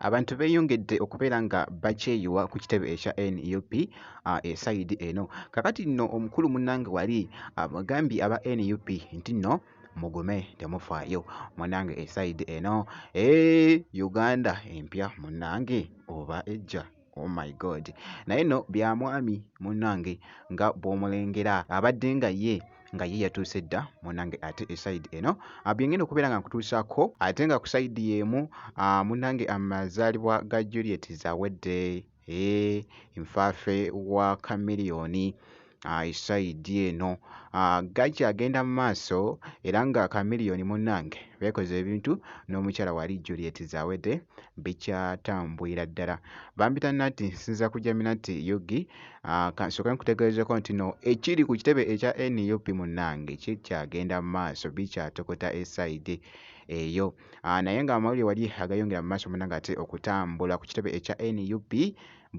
abantu beeyongedde okubeera nga bakyeyiwa ku kitebe ekya nup ah, esayidi eno kakati nno omukulu munange wali abagambye aba nup nti nno mugume temufaayo munange esayidi eno e eh, uganda empya munange oba ejja Oh my God. Naye no bya mwami munange nga bwomulengera abadde nga ye nga ye yatuuse dda munange ate esaidi eno ah, byengenda okubeera nga nkutuusako ate nga ku saidi yeemu ah, munange amazaalibwa ga Juliet zawedde ee eh, nfaafe wa kamiliyoni isayidi eno gajja agenda mu maaso era nga kamiliyoni munnange beekoze ebintu n'omukyala wali juliet zawedde bikyatambwira ddala bambita nati nsinza kujja minati yugi kansoke nkutegeezeko nti no ekiri ku kitebe ekya nup munnange kikyagenda mu maaso bikyatokota esayidi eyo naye nga amawulire wali agayongera mu maaso munnange ate okutambula ku kitebe ekya nup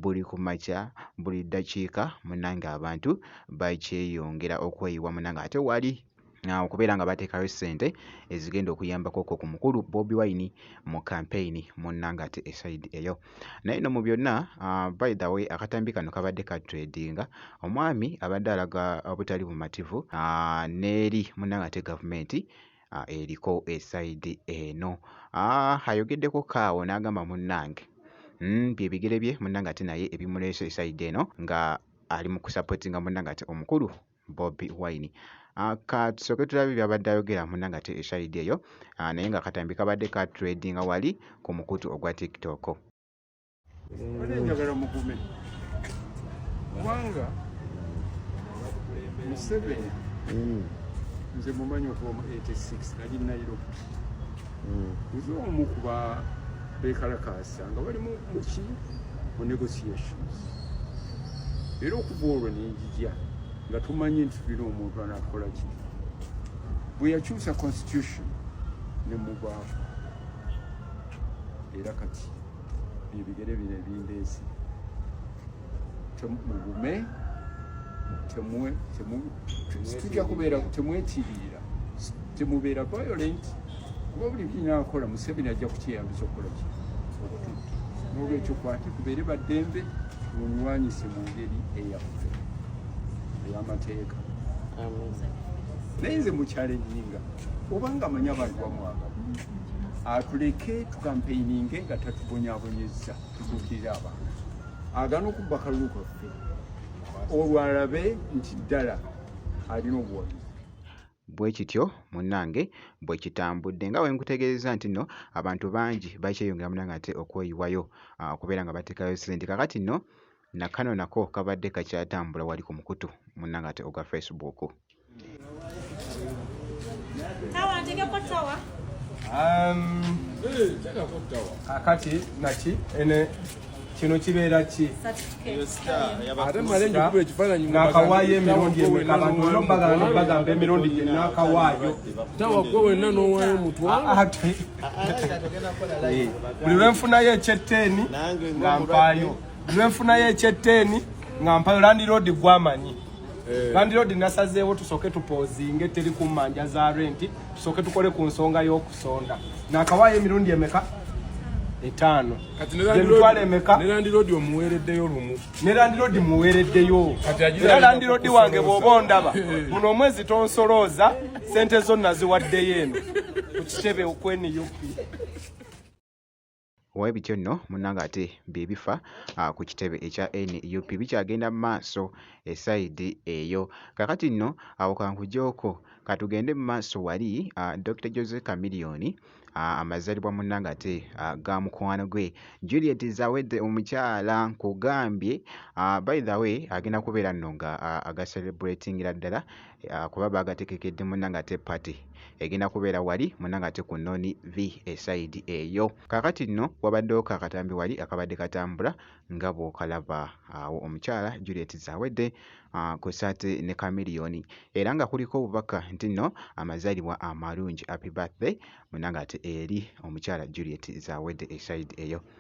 buli ku makya buli ddakiika munange abantu bakyeyongera okweyiwa munange ate wali okubeera nga bateekayo ssente ezigenda okuyambako okwo ku mukulu bobi wine mu kampeyini munnanga ate esaidi eyo naye no mu byonna uh, by the way akatambi kano kabadde ka tradinga omwami abadde alaga obutali bumativu uh, neeri munnanga ate gavumenti ah, eriko esayidi eno ah, ayogeddeko kaawo n'agamba munnange hmm, bye bigere bye munnange ate naye ebimuleese esayidi eno nga ali mu kusapotinga munnange ate omukulu bobi wine Ah, ka tusooke tulabe byabadde ayogera muna nga te eshayidi eyo ah, naye nga katambi kabadde ka tradinga wali ku mukutu ogwa tiktok Bade njagala mugume kubanga Museveni mm. nze mumanyi okuba mu 86 nali Nairobi mm. nze omu kuba bekalakaasa nga bali muki mu negotiations era okuva olwo nenjija nga tumanyi nti tulina omuntu anakola ki bwe yakyusa constitution ne mubaako era kati ebigere bino ebindeesi mugume tujja kubeera temwekiriira temubeera violent kuba buli kinakola museveni ajja kukyeyambisa okukola ki okututta nolwekyo kwate kubeere baddembe mulwanyise mu ngeri eyaffe eyamateeka naye nze mukyalennyinga obanga amanyi abantu bamwaga atuleke tukampeininge nga tatubonyabonyezza tutuukirira abantu agana okubba kalulu kaffe olwalabe nti ddala alina obuwagizi bwe kityo munnange bwe kitambudde nga bwe nkutegeeza nti nno abantu bangi bakyeyongera munange ate okweyiwayo ah, okubeera nga bateekayo ssente kakati nno na kano nako kabadde kakyatambula wali ku mukutu munnanga ate ogwa facebook kakati um, naki ene kino kibeera ki ate male njukulu ekifaananyi nakawaayo emirundi emekabantu olina okubagala nobagamba emirundi gye nakawaayo tawa gwe wenna n'owaayo mutwaloate buli lwenfunayo ekyeteeni nga mpaayo lwenfuna yekyeteeni nga mpayo landiroodi gwamanyi eh. landiroodi nasazeewo tusooke tupoozinge teri ku mmanja za renti tusooke tukole ku nsonga y'okusonda nakawaayo emirundi emeka etaano emitwalo emeka ne landiroodi omuweereddeyo lumu ne landiroodi muweereddeyo era landiroodi wange bw'oba ondaba eh. buno omwezi tonsolooza sente zo naziwaddeyo eno ku kitebe okweniyopi Bwe bityo nno munnange ate bye bifa ku kitebe ekya nup bikyagenda mu maaso e sayidi eyo. Kaakati nno awo ka nkugyeko ka tugende mu maaso wali Dokita Jose Chameleone amazaalibwa munnange ate ga mukwano gwe Juliet Zawedde omukyala nkugambye by the way agenda kubeera nno nga aga celebratingira ddala ah, kuba bagatekekedde munange ate party egenda kubeera wali munange ate ku noni v esayidi eyo kakati nno wabaddewo kakatambi wali akabadde katambula nga bwokalaba awo omukyala juliet zawedde ah, kwesaate ne kamiliyoni era nga kuliko obubaka nti nno amazaalibwa amalungi happy birthday munange ate eri omukyala juliet zawedde esayidi eyo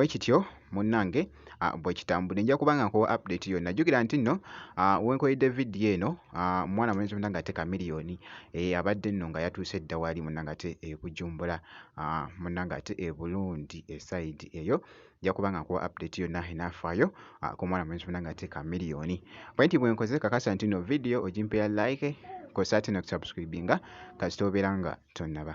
bwe kityo munnange ah, bwe kitambudde nja kuba nga nkuwa update yonna jjukira nti nno ah, wenkoledde vidiyo eno ah, mwana mulenzi munna nga ate kamiliyoni eh, abadde nno nga yatuuse edda waali munna nga ate ebujumbula munna nga ate eburundi esayidi eyo nja kuba nga nkuwa update yonna enaafaayo ah, ku mwana mulenzi munange ate ka miliyoni pointi bwe nkoze kakasa nti no vidiyo ogimpeera like kosa ate nokusubscribinga kasita obeera nga tonnaba